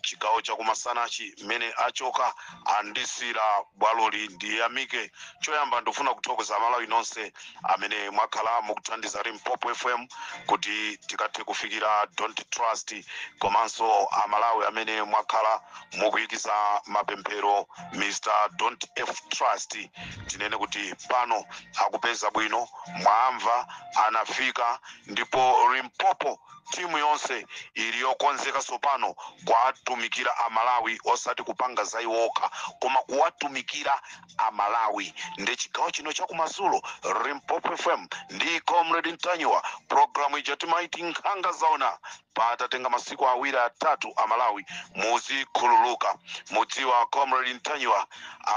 chigawo cha kumasanachi mmene achoka andisiira bwaloli ndiyamike choyamba ndifuna kuthokoza amalawi nonse amene mwakhala mukuthandiza limpopo fm kuti tikathe kufikira don't trust komanso amalawi amene mwakhala mukuyikiza mapemphero mr don't trust tinene kuti pano akupeza bwino mwamva anafika ndipo limpopo Timu yonse ili yokonzeka tsopano kuwatumikira a Malawi osati kupanga za iwo okha koma kuwatumikira a Malawi ndi chigawo chino cha kumadzulo Limpopo FM ndi Comrade Ntanyiwa programu ija timaiti Nkhanga Zaona patatenga masiku awiri atatu a Malawi muzikhululuka mudziwe Comrade Ntanyiwa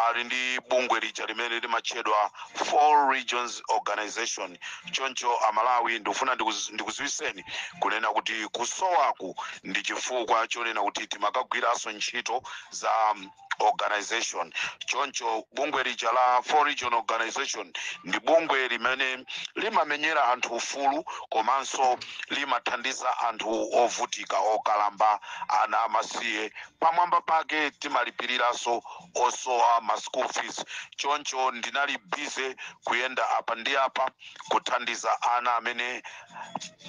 ali ndi bungwe lija limene limatchedwa Four Regions Organization. Choncho Amalawi ndikufuna ndikuz- ndikuziwiseni kunena kuti kusowaku ndi chifukwa chonena kuti timakagwiranso ntchito za mm, organization choncho bungwe lija la Four Region Organization ndi bungwe limene limamenyera anthu ufulu komanso limathandiza anthu ovutika okalamba ana amasiye Pamwamba pake timalipiriranso osowa ma school fees choncho ndinali busy kuyenda apa ndi apa kuthandiza ana amene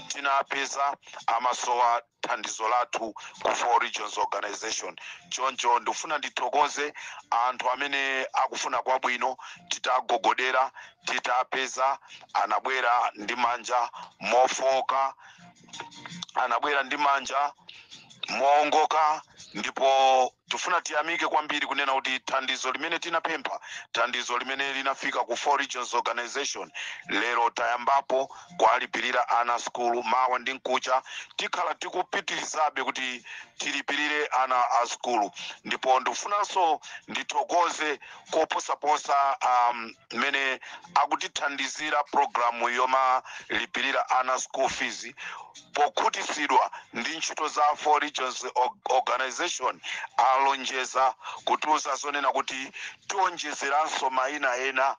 tinapeza amasowa thandizo lathu ku 4 Regions Organisation. Choncho ndifuna ndithokoze anthu amene akufuna kwabwino titagogodera titapeza anabwera ndi manja mofooka anabwera ndi manja moongoka ndipo tifuna tiyamike kwambiri kunena kuti thandizo limene tinapempha thandizo limene linafika ku Four Regions Organization lero tayambapo kuwalipirira ana a sukulu mawa ndi mkucha tikhala tikupitirizabe kuti tilipirire ana a sukulu ndipo ndifunanso ndithokoze koposaposa um, amene akutithandizira programu yomalipirira ana school fees pokhutitsidwa ndi ntchito za four regions Or- organization alonjeza kutiuza zonena kuti tionjezeranso maina ena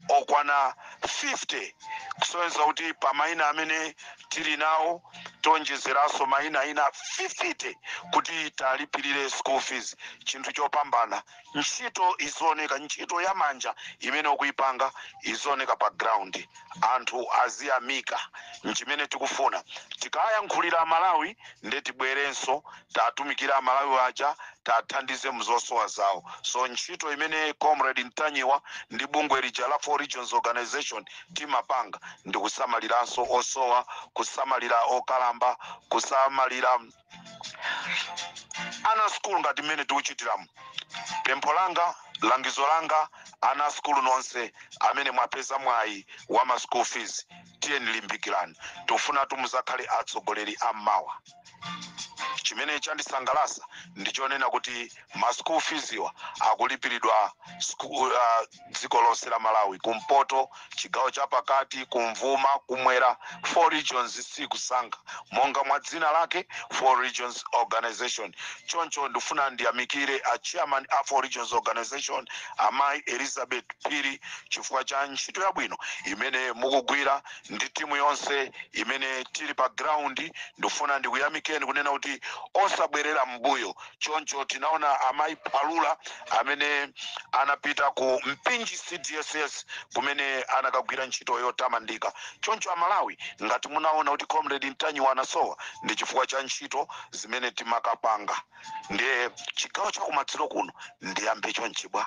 okwana 50 kusonyeza kuti pa maina amene tili nawo tionjezeranso maina ena 50 kuti tiwalipirire school fees chinthu chopambana Ntchito izioneka, ntchito ya manja imene ukuipanga izioneka pa ground, anthu aziyamika. Nchimene tikufuna. Tikawayankhulira aMalawi nde tibwerenso tiwatumikire aMalawi aja, tiathandize mu zosowa zawo. So ntchito imene Comrade Ntanyiwa ndi bungwe lija la Four Regions Organization timapanga ndi kusamaliranso osowa, kusamalira okalamba, kusamalira. ana sukulu ngati mmene tikuchitiramu pempho langa langizo langa ana asukulu nonse amene mwapeza mwayi wa ma school fees tiyeni limbikirani tikufunatu muzakhale atsogoleri ammawa chimene chandisangalasa ndichonena kuti ma school feeswa akulipiridwa uh, dziko lonse la Malawi kumpoto, chigawo cha pakati, kumvuma, kumwera 4 regions sikusankha monga mwa dzina lake 4 regions organisation choncho ndifuna ndiyamikire a chairman a 4 regions organisation amayi Elizabeth Phiri chifukwa cha ntchito yabwino imene mukugwira ndi timu yonse imene tili pa ground ndifuna ndikuyamikeni kunena kuti osabwerera m'mbuyo choncho tinaona amayi phalula amene anapita ku mpinji cdss kumene anakagwira ntchito yotamandika choncho amalawi ngati munaona kuti comrade ntanyiwa anasowa ndi chifukwa cha ntchito zimene timakapanga ndiye chigawo chakumadzulo kuno ndiyambe chonchi bwa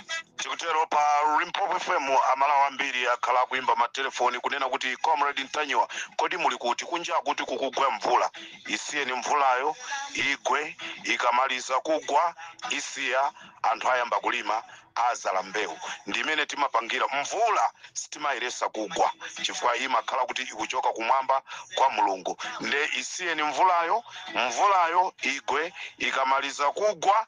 tikutero pa limpopo fm amalawi ambiri akhala akuimba matelefoni kunena kuti comrade ntanyiwa kodi muli kuti kunja akuti kukugwa mvula isiyeni mvulayo igwe ikamaliza kugwa isiya anthu ayamba kulima azala mbewu ndi mmene timapangira mvula sitimayiresa kugwa chifukwa imakhala kuti ikuchoka kumwamba kwa mulungu nde isiyeni mvulayo mvulayo igwe ikamaliza kugwa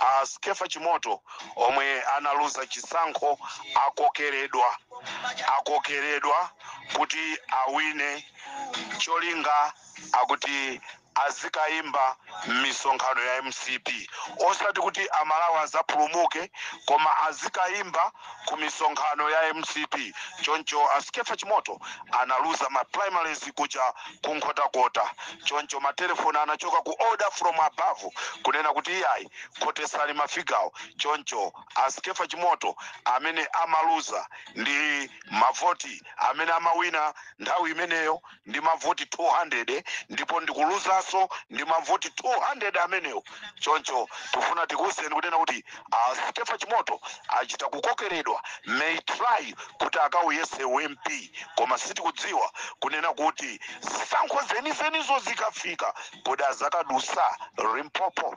a Skeffa Chimoto omwe analuza chisankho akokeredwa akokeredwa kuti awine cholinga akuti azikayimba m'misonkhano ya mcp osati kuti amalawi azapulumuke koma azikayimba ku misonkhano ya mcp choncho a skefa chimoto analuza ma primaries kuja ku nkhotakota choncho matelefoni anachoka ku order from above kunena kuti iyayi khotesani mafigawo choncho a skefa chimoto amene amaluza ndi mavoti amene amawina nthawi imeneyo ndi mavoti 200 ndipo ndikuluzaso ndi mavoti 200 amenewo choncho tifuna tikuwuzeni kunena kuti a Skefa Chimoto achita kukokeredwa may try kuti akawuyese u MP koma sitikudziwa kunena kuti zisankho zenizenizo zikafika kodi azakadusa Limpopo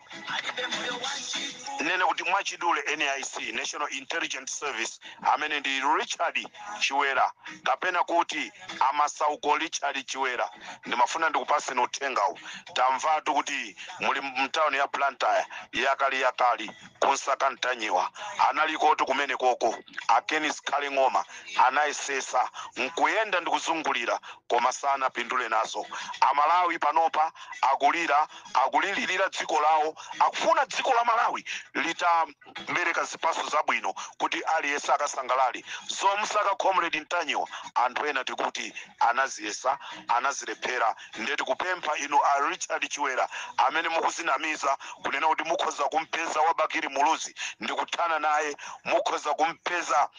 nene kuti mwachidule nis national intelligence service amene ndi richard chiwera kapena kuti amasauko richard chiwera ndimafuna ndikupaseni uthengawu tamvatu kuti muli mtawuni ya blantyre yakali yakali kunsaka ntanyiwa analikotu kumene koko aken zikhale ng'oma anayesesa nkuyenda ndikuzungulira koma sanapindule nazo amalawi panopa akulira akulilirira dziko lawo akufuna dziko la malawi litabereka zipaso zabwino kuti aliyese akasangalale zomsaka comrade ntanyiwa anthu ena tikuti anaziyesa anazilephera nde tikupempha inu a richard chiwera amene mukuzinamiza kunena kuti mukhoza kumpeza wabakiri muluzi ndikuthana naye mukhoza kumpeza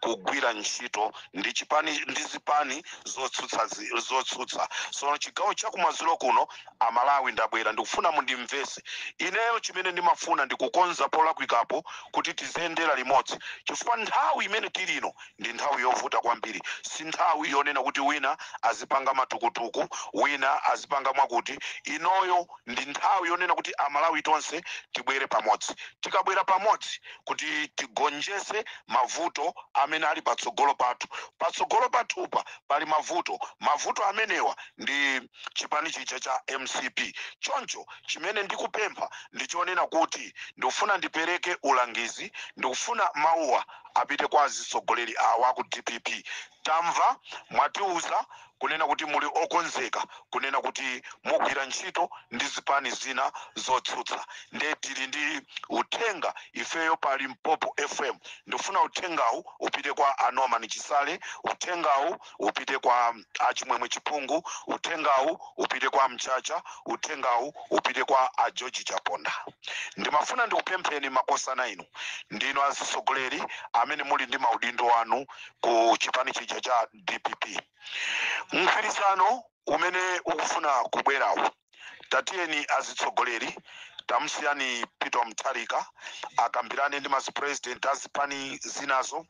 kugwira ntchito ndi zipani zotsutsa so chigawo chakumadzulo kuno amalawi ndabwera ndikufuna mundimvese ineyo chimene ndimafuna ndikukonza polakwikapo kuti tiziyendera limodzi chifukwa nthawi imene tili ino ndi nthawi yovuta kwambiri si nthawi yonena kuti wina azipanga matukutuku wina azipanga mwakuti inoyo ndi nthawi yonena kuti amalawi tonse tibwere pamodzi tikabwera pamodzi kuti tigonjese mavuto amene ali patsogolo pathu patsogolo pathupa pali mavuto mavuto amenewa ndi chipani chija cha mcp choncho chimene ndikupempha ndichonena kuti ndikufuna ndipereke ulangizi ndikufuna mawuwa apite kwa azitsogoleri awa aku dpp Tamva mwatiuza kunena kuti muli okonzeka kunena kuti mugwira ntchito ndi zipani zina zotsutsa nde tili ndi uthenga ifeyo pa Limpopo FM ndikufuna uthengawu upite kwa a Norman Chisale, uthengawu upite kwa a Chimwemwe Chipungu, uthengawu upite kwa a Mchacha, uthengawu upite kwa a George Chaponda. Ndimafuna ndikupempheni makosana inu ndinu azitsogoleri amene muli ndi maudindo anu ku chipani chija cha dpp mgwirizano umene ukufuna kubwerawo tatiyeni azitsogoleri tamusiyani peter mutharika akambirane ndi masipresident azipani zinazo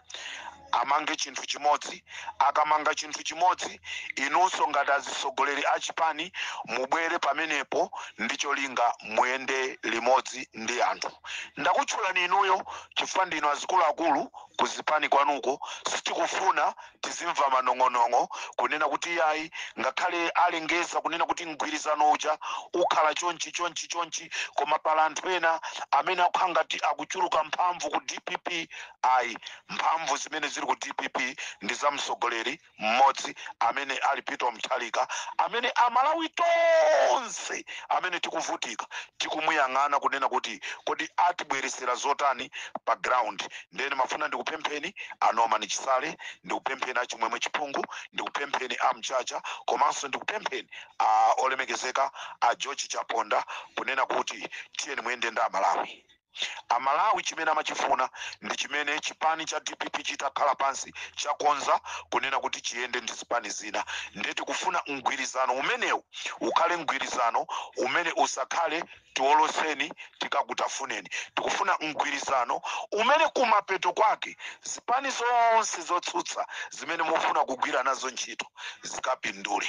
amange chinthu chimodzi akamanga chinthu chimodzi inunso ngati azitsogoleri achipani mubwere pamenepo ndi cholinga muyende limodzi ndi anthu ndakutchulani inuyo chifukwa ndinu azikuluakulu kuzipani kwanuko sitikufuna tizimva manong'onong'o kunena kuti iyayi ngakhale alengeza kunena kuti mgwirizano uja ukhala chonchi chonchi chonchi koma pali anthu ena amene akukhala ngati akuchuluka mphamvu ku dpp ayi mphamvu zimene zili ku dpp ndi za mtsogoleri mmodzi amene ali peter mutharika amene amalawi tonse amene tikuvutika tikumuyang'ana kunena kuti kodi atibweresera zotani pa ground ndene mafuna ndikupempheni a norman chisale ndikupempheni achimwemwe chipungu ndikupempheni amchacha komanso ndikupempheni a olemekezeka a george chaponda kunena kuti tiyeni muyende ndi amalawi Amalawi chimene amachifuna ndi chimene chipani cha dpp chitakhala pansi chakonza kunena kuti chiyende ndi zipani zina nde tikufuna mgwirizano umenewu ukhale mgwirizano umene usakhale tioloseni tikakutafuneni tikufuna mgwirizano umene kumapeto kwake zipani zonse zotsutsa zimene mufuna kugwira nazo ntchito zikapindule.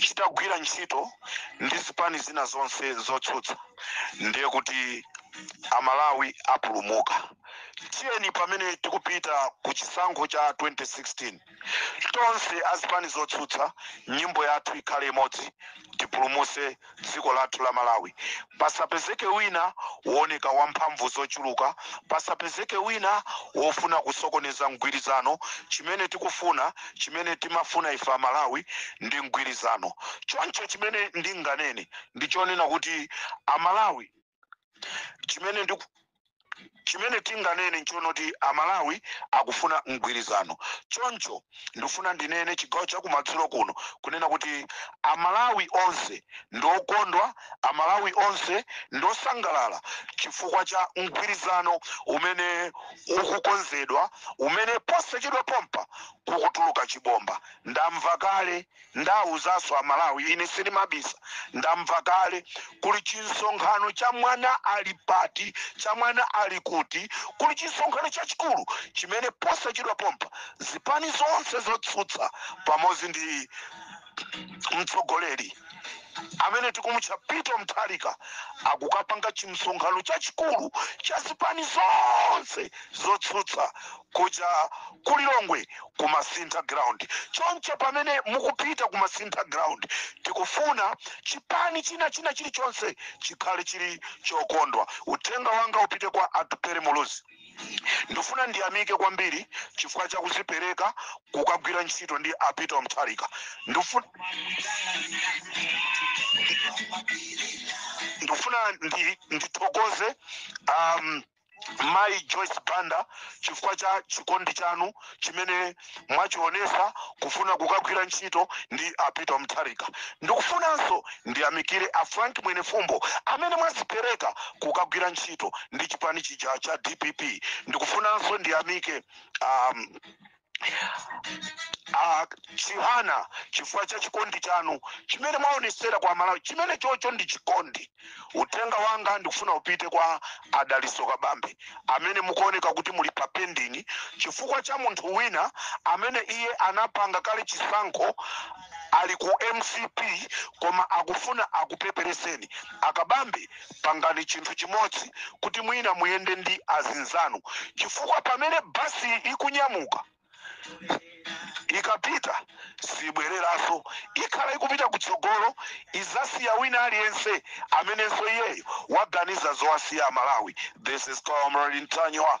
chitagwira ntchito ndi zipani zina zonse zotsutsa ndiye kuti amalawi apulumuka tiyeni pamene tikupita ku chisankho cha 2016 tonse azipani zotsutsa nyimbo yathu ikhale imodzi tipulumuse dziko lathu la Malawi pasapezeke wina wooneka wa mphamvu zochuluka, pasapezeke wina wofuna kusokoneza mgwirizano. Chimene tikufuna, chimene timafuna ife a Malawi ndi mgwirizano. Choncho chimene ndinganene ndi chonena kuti a Malawi. chimene chimene tinganene nchonoti amalawi akufuna mgwirizano choncho ndifuna ndinene chigawo chakumadzulo kuno kunena kuti amalawi onse ndiokondwa amalawi onse ndiosangalala chifukwa cha mgwirizano umene ukukonzedwa umene posachedwa pompa kukutuluka chibomba ndamva kale Ndawuzanso a Malawi ine sindimabisa ndamva kale kuli chinsonkhano cha mwana ali pati cha mwana ali kuti kuli chinsonkhano chachikulu chimene posachedwa pompa zipani zonse zotsutsa pamodzi ndi mtsogoleri amene tikumutcha Peter Mutharika akukapanga chimsonkhano chachikulu cha zipani zonse zotsutsa Kuja ku Lilongwe ku Masintha ground. Choncho pamene mukupita ku Masintha ground tikufuna chipani china china chilichonse chikhale chili chokondwa. Uthenga wanga upite kwa Atupele Muluzi. Ndifuna ndiyamike kwambiri chifukwa cha kuzipereka kukagwira ntchito ndi a Peter Mutharika. Ndifuna ndithokoze um, mayi joyce banda chifukwa cha chikondi chanu chimene mwachionesa kufuna kukagwira ntchito ndi a peter mutharika ndikufunanso ndiyamikire a frank mwenefumbo amene mwazipereka kukagwira ntchito ndi chipani chija cha dpp ndikufunanso ndiyamike um, Ah, chihana chifukwa cha chikondi chanu chimene mwaonesera kwa malawi chimene chocho ndi chikondi uthenga wanga ndikufuna upite kwa adaliso kabambe amene mukuoneka kuti muli pa pending chifukwa cha munthu wina amene iye anapanga kale chisankho ali ku mcp koma akufuna akupepereseni akabambe Pangani chinthu chimodzi kuti mwina muyende ndi azinzanu chifukwa pamene bus ikunyamuka ikapita sibweleraso ikhala ikupita kutsogolo izasiya wina aliyense amenenso iyeyo waganiza zowasiya amalawi this is comrade ntanyiwa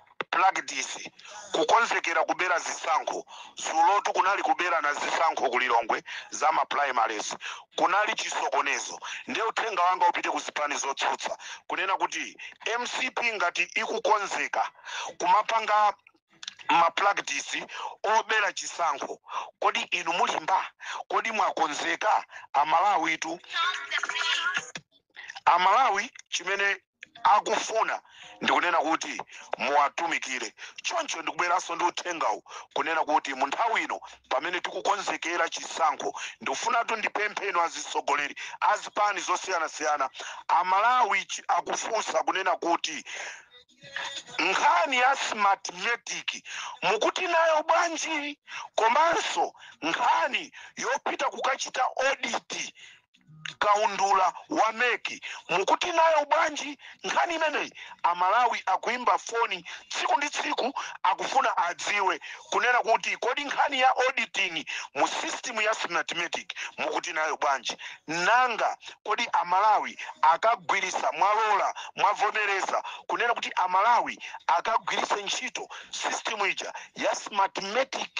Practice, kukonzekera kubera zisankho. Dzulotu kunali kuberana zisankho ku Lilongwe za ma primaries. Kunali chisokonezo nde uthenga wanga upite ku zipani zotsutsa kunena kuti mcp ngati ikukonzeka kumapanga ma practice obera chisankho kodi inu mulimba? Kodi mwakonzeka? Amalawitu Amalawi chimene. akufuna ndikunena kuti muwatumikire choncho ndikubweranso ndi uthengawu kunena kuti mu nthawi ino pamene tikukonzekera chisankho ndikufunatu ndipemphe inu azitsogoleri azipani zosiyanasiyana amalawi akufunsa kunena kuti nkhani ya smartmatic mukuti nayo bwanji komanso nkhani yopita kukachita audit kaundula wa mec mukuti nayo bwanji nkhani imeneyi amalawi akuimba foni tsiku ndi tsiku akufuna adziwe kunena kuti kodi nkhani ya auditing mu system ya smartmatic mukuti nayo bwanji nanga kodi amalawi akagwiritsa mwalola mwavomereza kunena kuti amalawi akagwiritse ntchito system ija ya smartmatic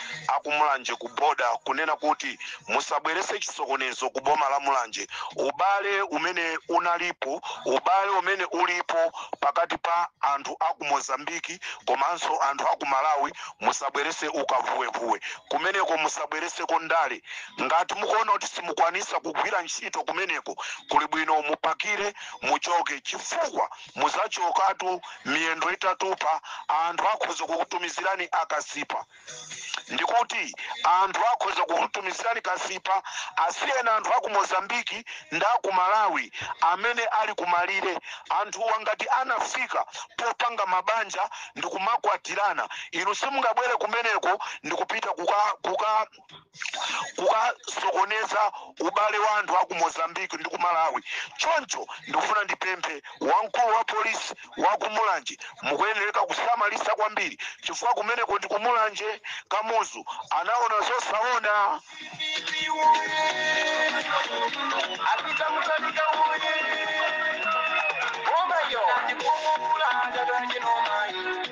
akumulanje ku boda kunena kuti musabwerese chisokonezo ku boma la mulanje ubale umene unalipo ubale umene ulipo pakati pa anthu aku mozambiki komanso anthu aku malawi musabwerese ukavuwevuwe kumeneko musabwereseko ndale ngati mukuona kuti simukwanisa kugwira ntchito kumeneko kuli bwino mupakire muchoke chifukwa muzachokatu miyendo itatupa anthu akhoza kukutumizirani akasipa ndikuti anthu akhoza kukutumizirani kasipa asiyeni anthu aku mozambiki ndi aku malawi amene ali kumalire anthuwa ngati anafika popanga mabanja ndikumakwatirana inu simungabwere kumeneko ndikupita kuka, kuka kukasokoneza ubale wa anthu aku mozambique ndi ku malawi choncho ndikufuna ndipemphe wamkulu wa polisi wa ku mulanje mukuyenereka kusamalisa kwambiri chifukwa kumeneko ndi ku mulanje kamuzu anaona zosaona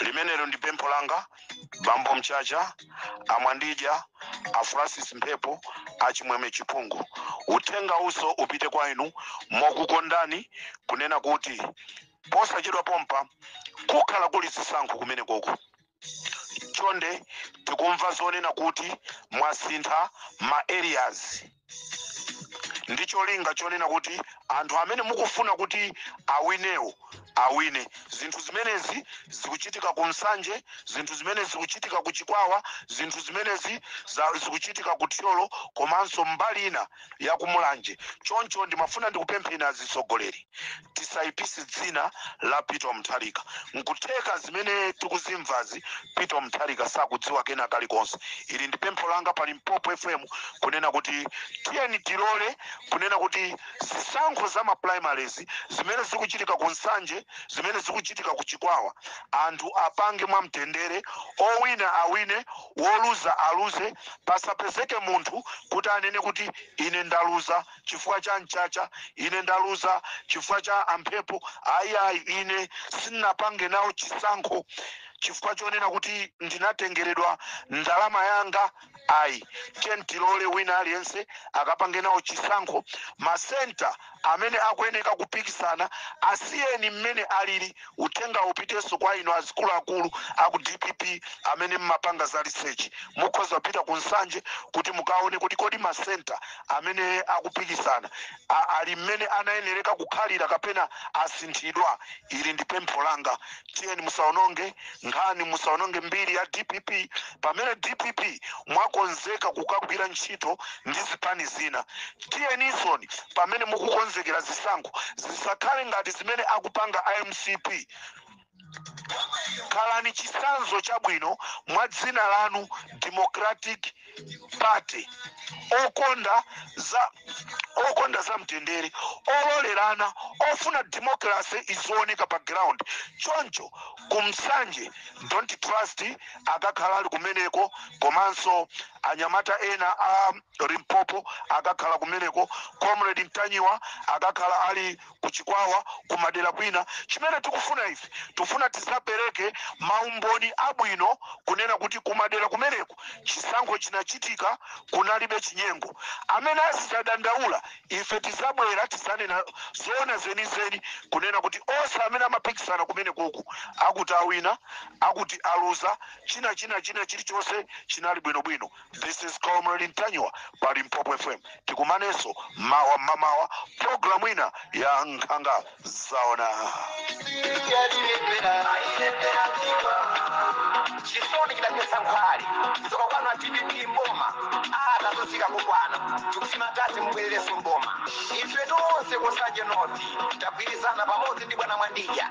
limenelo ndi pempho langa bambo mchacha a mwandidya a francis mphepo a chimwemwe chipungu uthenga uwo upite kwa inu mokukondani kunena kuti posachedwa pompa kukhala kuli zisankho kumenekoko chonde tikumva zonena kuti mwasintha ma areas ndi cholinga chonena kuti anthu amene mukufuna kuti awinewo awine zinthu zimenezi zikuchitika ku nsanje zinthu zimenezi zikuchitika ku chikwawa zinthu zimenezi zikuchitika ku thyolo komanso mbali ina ya ku mulanje choncho ndimafuna ndikupempheni azitsogoleri tisayipise dzina la peter mutharika nkutheka zimene tikuzimvazi peter mutharika sakudziwa kena kalikonse ili ndi pempho langa pa limpopo fm kunena kuti tiyeni tilole kunena kuti zisankho za ma primaries zimene zikuchitika ku nsanje zimene zikuchitika ku chikwawa anthu apange mwamtendere owina awine woluza aluze pasapezeke munthu kuti anene kuti ine ndaluza chifukwa cha mchacha ine ndaluza chifukwa cha a mphepo ayi ayi ine sinapange nawo chisankho chifukwa chonena kuti ndinatengeredwa ndalama yanga ayi tiye tilole wina aliyense akapange nawo chisankho masenta amene akuyeneka kupikisana asiyeni mmene alili uthenga upitenso kwa inu azikuluakulu aku dpp amene mmapanga za research mukhoza kupita ku nsanje kuti mukaone kuti kodi masenta amene akupikisana ali mmene anayenereka kukhalira kapena asinthidwa ili ndi pempho langa tiyeni musaononge nkhani musaononge mbiri ya dpp pamene dpp mwakonzeka kukagwira ntchito ndi zipani zina tiyenisoni pamene mukukonzekera zisankho zisakhale ngati zimene akupanga a mcp khalani chisanzo chabwino mwa dzina lanu democratic party okonda za okonda za mtendere ololerana ofuna democracy izioneka pa ground choncho ku nsanje don't trust akakhala ali kumeneko komanso anyamata ena a limpopo akakhala kumeneko comrade mtanyiwa akakhala ali ku Chikwawa, ku madera kwina. Chimene tikufuna ife, tikufuna tizapereke maumboni abwino kunena kuti ku madera kumeneku chisankho chinachitika, kunalibe chinyengo. Amene azizadandaula, ife tizabwera tizanena zoona zenizeni kunena kuti onse amene amapikisana kumenekuku akuti awina, akuti aluza, china china chilichonse chinali bwinobwino. This is Comrade Ntanyiwa pa Limpopo FM. Tikumanenso mawa mmamawa programu ina ya nkhanga zaona. chisoni chidaphetsa nkhwali tsoka kwanu a dpp mboma atazozika kukwana tikusima tati mbwerereso mboma ife tonse kusanje noti tagwirizana pamodzi ndi bwana mwandija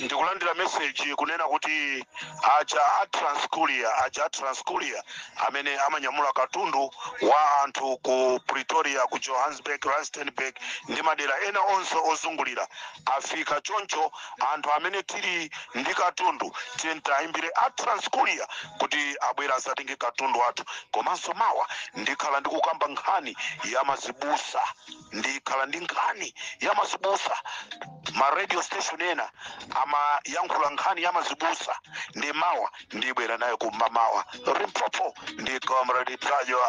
ndikulandira meseji kunena kuti aja a transcuria aja a transcuria amene amanyamula katundu wa anthu ku pretoria ku johannesburg rustenburg ndi madera ena onse ozungulira afika choncho anthu amene tili ndi katundu tiyeni tiyimbire a transcuria kuti abwere azatenge katundu wathu komanso mawa ndikhala ndikukamba nkhani ya mazibusa ndikhala ndi nkhani ya mazibusa ma radio station ena amayankhula nkhani ya mazibusa ndiye mawa ndibwera nayo kum'mamawa limpopo ndi comrade ntanyiwa